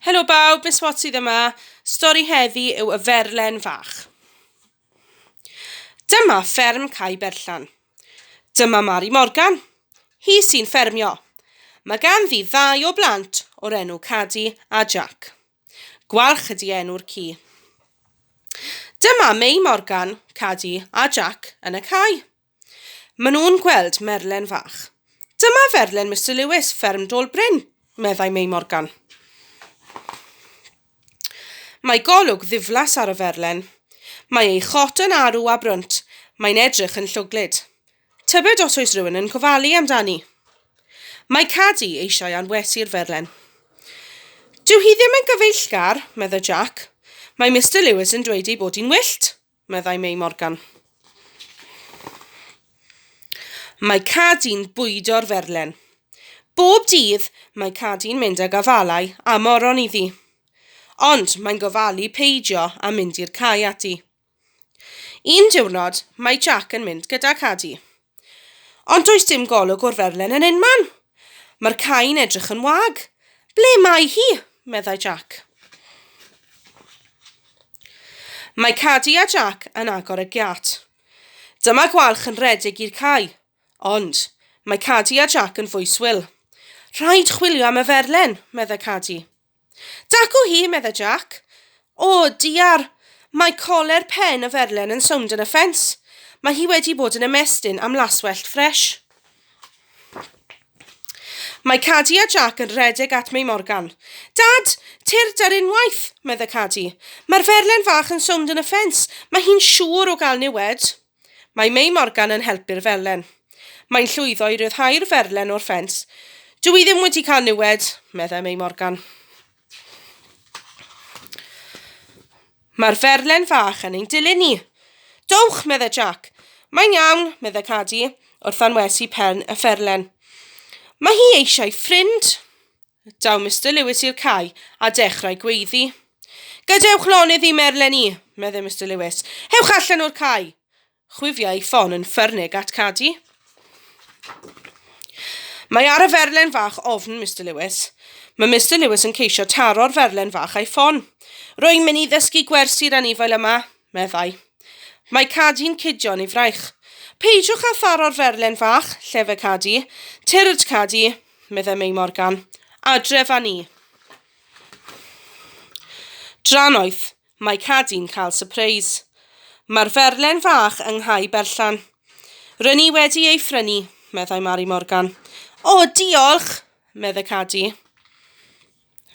Helo bawb, Miss Watt sydd yma. Stori heddi yw y ferlen fach. Dyma fferm Cai Berllan. Dyma Mari Morgan. Hi sy'n ffermio. Mae ganddi ddau o blant o'r enw Cadi a Jack. Gwalch ydi enw'r ci. Dyma Mei Morgan, Cadi a Jack yn y cae. Maen nhw'n gweld merlen fach. Dyma ferlen Mister Lewis, fferm Dôl Bryn, meddai Mei Morgan. Mae golwg ddiflas ar y ferlen. Mae ei chot yn arw a brwnt, mae'n edrych yn llwglyd. Tybed os oes rhywun yn gofalu amdani? Mae Cadi eisiau anwesu'r ferlen. Dyw hi ddim yn gyfeillgar, meddai Jack. Mae Mister Lewis yn dweud ei bod hi'n wyllt. meddai Mei Morgan. Mae Cadi'n bwydo'r ferlen. Bob dydd mae Cadi'n mynd ag afalau a moron iddi. Ond mae'n gofalu peidio a mynd i'r cae ati. Un diwrnod mae Jac yn mynd gyda Cadi. Ond does dim golwg o'r ferlen yn unman. Mae'r cae'n edrych yn wag. Ble mae hi? meddai Jack. Mae Cadi a Jack yn agor y giat. Dyma gwalch yn rhedeg i'r cae. Ond, mae Cadi a Jack yn fwy swil. Rhaid chwilio am y ferlen, meddai Cadi. Dacw hi, medda Jac. O, diar! Mae coler pen y ferlen yn sownd yn y ffens. Mae hi wedi bod yn ymestyn am laswellt ffresh. Mae Cadi a Jac yn rhedeg at Mei Morgan. Dad, tyrd ar unwaith, medda Cadi. Mae'r ferlen fach yn sownd yn y ffens. Mae hi'n siŵr o gael niwed. Mae Mei Morgan yn helpu'r felen. Mae'n llwyddo i ryddhau'r ferlen o'r ffens. Dw i ddim wedi cael niwed, meddai Mei Morgan. Mae'r ferlen fach yn ein dilyn ni. Dowch, meddai Jack. Mae'n iawn, meddai Cadi, wrth anwesu pen y fferlen. Mae hi eisiau ffrind. Daw Mister Lewis i'r cae a dechrau gweiddi. Gadewch lonydd i Merlen i, meddai Mister Lewis. Hewch allan o'r cae! Chwifiai ei ffon yn ffyrnig at Cadi. Mae ar y ferlen fach ofn Mr Lewis. Mae Mr Lewis yn ceisio taro'r ferlen fach a'i ffon. Rwy'n mynd i ddysgu gwersi'r anifail yma, meddai. Mae Cadi'n cudio'n ei fraich. Peidiwch â tharo'r ferlen fach, lle fe Cadi. Tyrd, Cadi, meddai Mei Morgan. Adref â ni. Drannoeth, mae Cadi'n cael sypreis. Mae'r ferlen fach yng Nghai Berllan. Rŷn ni wedi ei phrynu, meddai Mari Morgan. O, diolch, meddai Cadi.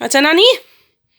A dyna ni.